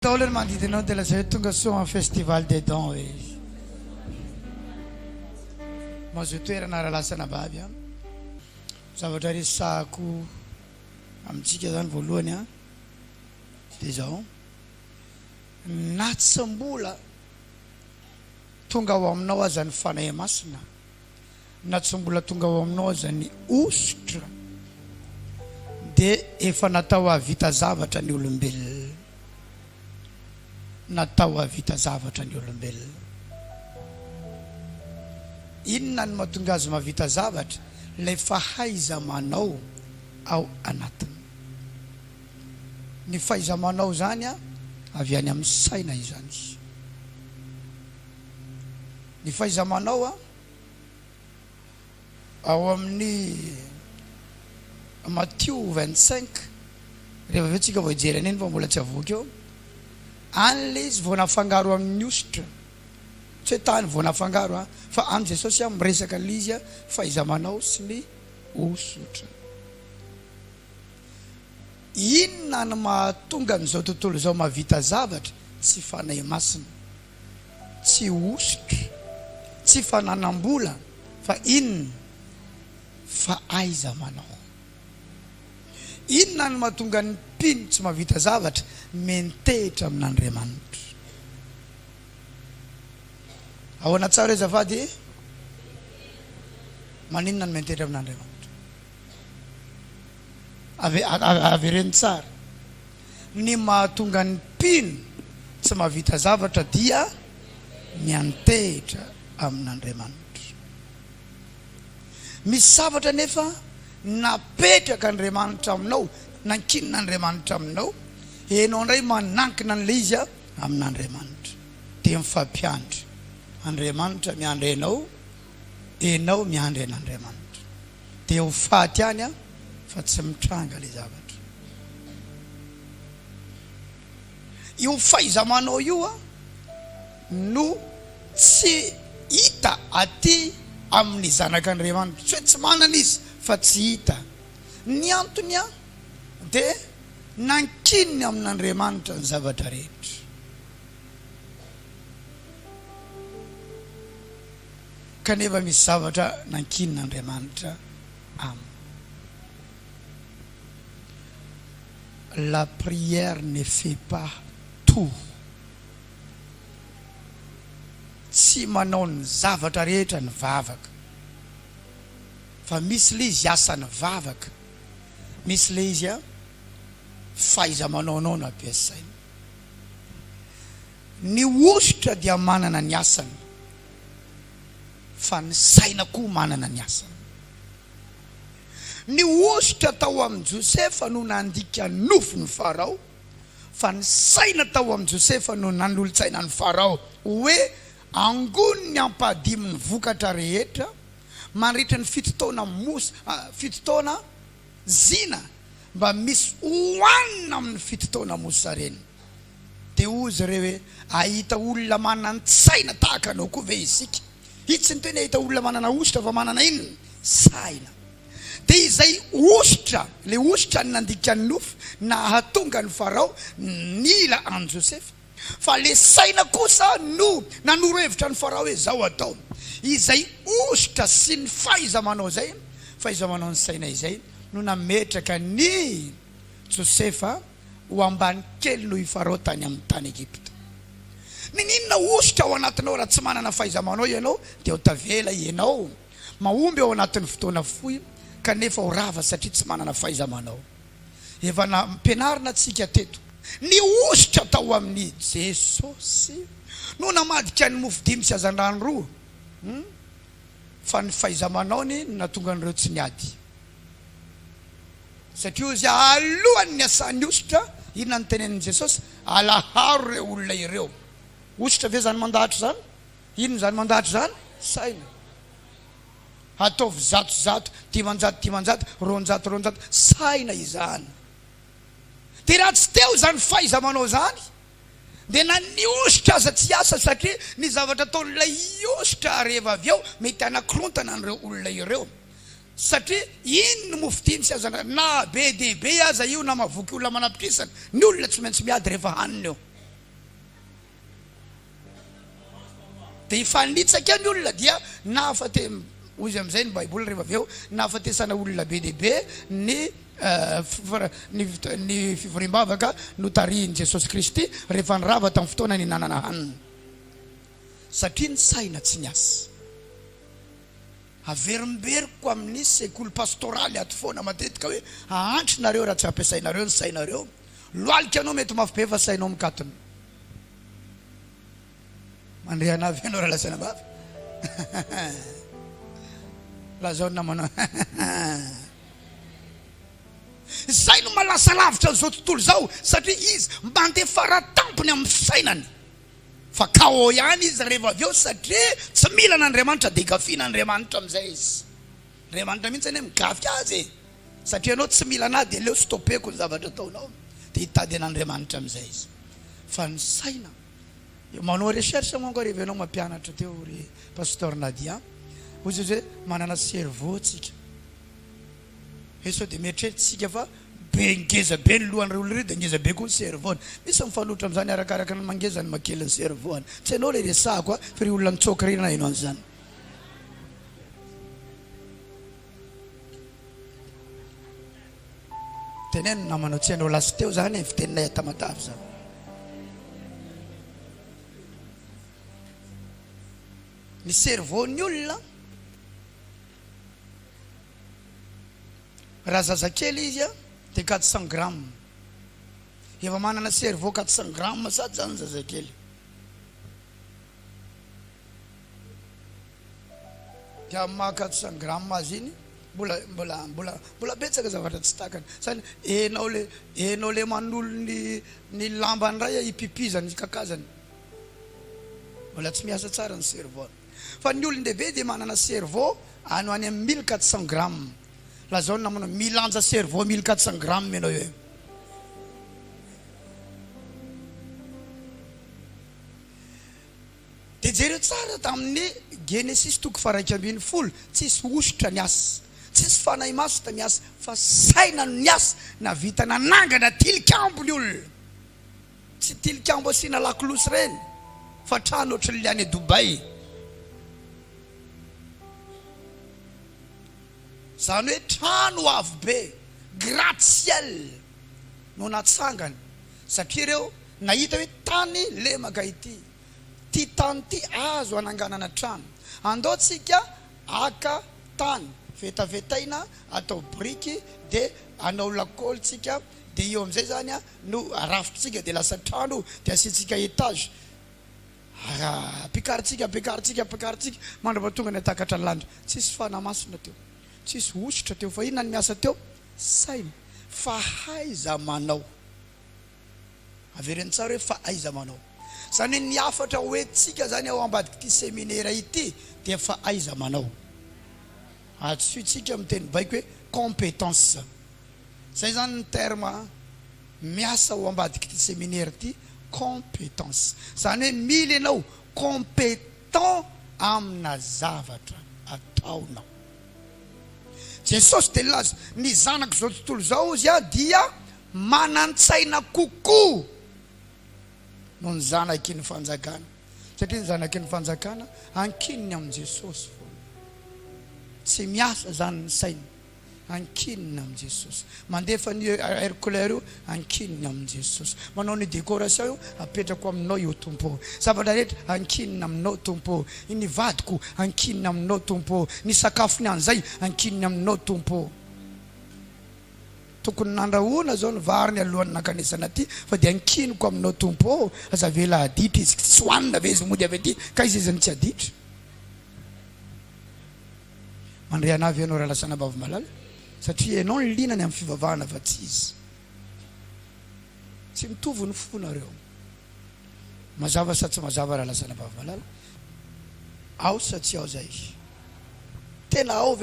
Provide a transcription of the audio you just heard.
Ntaolo ny manodidina ao dia lazao hoe tonga soa amin'ny festival des dons hoe izy. Mazoa toerana raha lasa anababy an. Zavatra resahako amintsika zany voalohany an dia izao, na tsy mbola tonga ao aminao aza ny Fanahy Masina, na tsy mbola tonga ao aminao aza ny hosotra dia efa natao hahavita zavatra ny olombelona. Natao hahavita zavatra ny olombelona. Inona no mahatonga azy mahavita zavatra? Ilay fahaiza-manao ao anatiny. Ny fahaiza-manao izany avy any amin'ny saina izany. Ny fahaiza-manao ao amin'ny Matio vingt cinq, rehefa avy eo tsika vao hijery an'iny fa mbola tsy avoaka eo, any le izy vao nafangaro amin'ny hosotra, tsy hoe tany vao nafangaro an, fa any Jesosy miresaka an'ilay izy fahaiza-manao sy ny hosotra. Inona no mahatonga an'izao tontolo izao mahavita zavatra? Tsy Fanahy Masina. tsy hosotra, tsy fananam-bola fa inona fa aiza manao. Inona no mahatonga ny mpino tsy mahavita zavatra, miantehitra amin'Andriamanitra. Ahoana tsara azafady e? Maninona no miantehitra amin'Andriamanitra? Ave, avereno tsara. Ny mahatonga ny mpino tsy mahavita zavatra dia ny antehitra amin'Andriamanitra. Misy zavatra anefa napetraka Andriamanitra aminao, nankinina Andriamanitra aminao, enao indray manankina an'ilay izy amin'Andriamanitra. Dia mifampiandry, Andriamanitra miandry anao. enao miandry an'Andriamanitra dia ho faty any aho fa tsy mitranga ilay zavatra io faizamanao io a no tsy hita aty amin'ny zanak'Andriamanitra tsy hoe tsy manana izy fa tsy hita ny antony a dia nankininy amin'Andriamanitra ny zavatra rehetra Kanefa misy zavatra nankinin'Andriamanitra aminy. La prière ne fait pas tout. Tsy manao ny zavatra rehetra ny vavaka. Fa misy ilay izy asan'ny vavaka, misy ilay izy fahaiza-manaonao no ampiasaina. Ny hosotra dia manana ny asany fa ny saina koa manana ny asany. Ny hosotra tao amin'i Josefa no nandika nofon'i Farao fa ny saina tao amin'i Josefa no nanolotsaina an'i Farao hoe angony ny ampahadimin'ny vokatra rehetra mandritra ny fito taona mosa, fito taona zina mba misy hohanina amin'ny fito taona mosa reny. Dia hoy izy ireo hoe, Hahita olona manan-tsaina tahaka anao koa ve isika? Io tsy ny teny hahita olona manana hosotra fa manana inona? Saina. Dia izay hosotra, ilay hosotra nandika ny nofo nahatonga an'i Farao nila an'i Josefa. Fa ilay saina kosa no nanoro hevitra an'i Farao hoe izao atao. Izay hosotra sy ny fahaiza-manao izay, fahaiza-manao ny saina izay no nametraka an'i Josefa. ho ambany kely noho i Farao tany amin'ny tany Egypta. Mininona hosoka ao anatinao raha tsy manana fahaiza-manao ianao dia ho tavela ianao mahomby ao anatin'ny fotoana fohy kanefa ho rava satria tsy manana fahaiza-manao. Efa nampianarina antsika teto. Ny hosoka tao amin'i Jesosy no namadika ny mofo dimy sy hazandrano roa fa ny fahaiza-manaony no nahatonga an'ireo tsy niady. Satria hoy Izy, Alohan' ny asahan' ny hosotra, inona no tenenin' i Jesosy? Alaharo ireo olona ireo. Hosotra ve izany mandahatra izany? Inona izany mandahatra izany? Saina. Ataovy zato zato, dimanjato dimanjato, roanjato roanjato, saina izany. Dia raha tsy teo izany fahaiza-manao izany, dia na ny hosotra aza tsy hiasa, satria ny zavatra ataon' ilay hosotra rehefa avy eo mety hanakorontana an' ireo olona ireo. Satria iny no mofo tiany sy azo andrasana. Na be dia be aza io, na mahavoky olona manapitrisana, ny olona tsy maintsy miady rehefa hanina eo. Dia hifanitsaka ny olona dia nahafate, hoy izy amin'izay ny Baiboly rehefa avy eo, nahafatesana olona be dia be ny ny fivoriam-bavaka notarihin'i Jesosy Kristy rehefa nirava tamin'ny fotoana nihinanana hanina. Satria ny saina tsy niasa. Averimberiko amin'ny sekoly pastoraly ato foana matetika hoe hahantra nareo raha tsy ampiasainareo ny sainareo, lohalika anao mety mafy be fa sainao mikatona. Mandre anah ve ianao raha lazaina mafy? Lazao ny namanao. Izay no maha lasa lavitra an'izao tontolo izao satria izy mandeha fara tampony amin'ny fisainany. Fa KO ihany izy rehefa avy eo satria tsy mila an'Andriamanitra dia gafiana Andriamanitra amin'izay izy. Andriamanitra mihitsy anie migafy azy e! Satria ianao tsy mila an'ahy dia aleo stopeko ny zavatra ataonao dia hitady an'Andriamanitra amin'izay izy. Fa ny saina, manao recherche manko ary avy eo ianao mampianatra teo ry Pasteur Nadia, hoy izy hoe manana cerveau tsika. He sao dia mieritreritsika fa be ngeza be ny lohan'ireo olona ireo dia ngeza be koa ny cerveau-ny. Misy ny mifanohitra amin'izany arakaraka ny mangeza ny makely ny cerveau-ny. Tsy ianao ilay resahako a, fa ireo olona nitsoaka ireny naheno an'izany. Teneno ny namanao, tsy ianao lasa teo izany e, fiteninay Tamatave izany. Ny cerveau-ny olona. Raha zazakely izy a de quatre cent grammes. Efa manana cerveau quatre cent grammes sady zany zazakely. De amin'ny maha quatre cent grammes azy iny mbola mbola mbola mbola betsaka zavatra tsy takany. Zany enao le enao le manolo ny ny lambany ray a ipipizany ikakazany. Mbola tsy miasa tsara ny cerveau. Fa ny olon-dehibe dia manana cerveau any ho any amin'ny mille quatre cents grammes. Lazao ny namanao, milanja cerveau mille quatre cents grammes ianao eo. Dia jereo tsara tamin'ny Genesisy toko faharaika ambin'ny folo, tsisy hosotra niasa, tsisy fanahy maso ta miasa, fa saina no niasa, nahavita nanangana tilikambo ny olona. Tsy tilikambo asiana lakolosy ireny fa trano ohatran'ilay any Dubai. Izany hoe trano avo be, gratte-ciel no natsangany satria ireo nahita hoe tany lemaka ity, ity tany ity azo hananganana trano. Andao tsika haka tany, vetavetaina atao biriky dia hanao lakolosy tsika dia eo amin'izay izany no arafintsika dia lasa trano dia asiantsika etage ara ampiakarintsika ampiakarintsika ampiakarintsika mandrapatonga ny hatakatra ny lanitra tsisy fanamasina teo tsisy hosotra teo fa inona ny miasa teo saina fa haiza manao avereno tsara hoe fa aiza manao zany hoe ny hafatra hoentintsika zany ao ambadik'ity seminera ity dia fa aiza manao Hadisointsika amin'ny teny baiko hoe compétence. Izay izany ny terme miasa ao ambadik'ity seminaire ity, compétence. Izany hoe mila ianao compétent amina zavatra ataonao. Jesosy dia nilaza, Ny zanak'izao tontolo izao, hozy Aho, dia manan-tsaina kokoa noho ny zanaky ny fanjakana. satria ny zanaky ny fanjakana ankininy amin'i Jesosy foana. Tsy miasa izany ny sainy, ankininy amin'i Jesosy. Mandefa ny air couleur io, ankininy amin'i Jesosy. Manao ny décoration io, apetrako aminao io Tompo ô. Zavatra rehetra, ankininy aminao Tompo ô. Ny vadiko, ankininy aminao Tompo ô. Ny sakafony an'izay, ankininy aminao Tompo ô. Tokony nandrahoana zao ny vary ny alohany nankanesana aty fa dia ankiniko aminao Tompo ô! Aza avela haditra izy, tsy hohanina ve izy mody avy aty ka izy izy no tsy haditra? Mandre anah ve ianao Ralasana Bavomalala satria ianao no liana ny amin'ny fivavahana fa tsy izy? Tsy mitovy ny fo nareo. Mazava sa tsy mazava Ralasana Bavomalala? Ao sa tsy ao zay? Tena ao ve?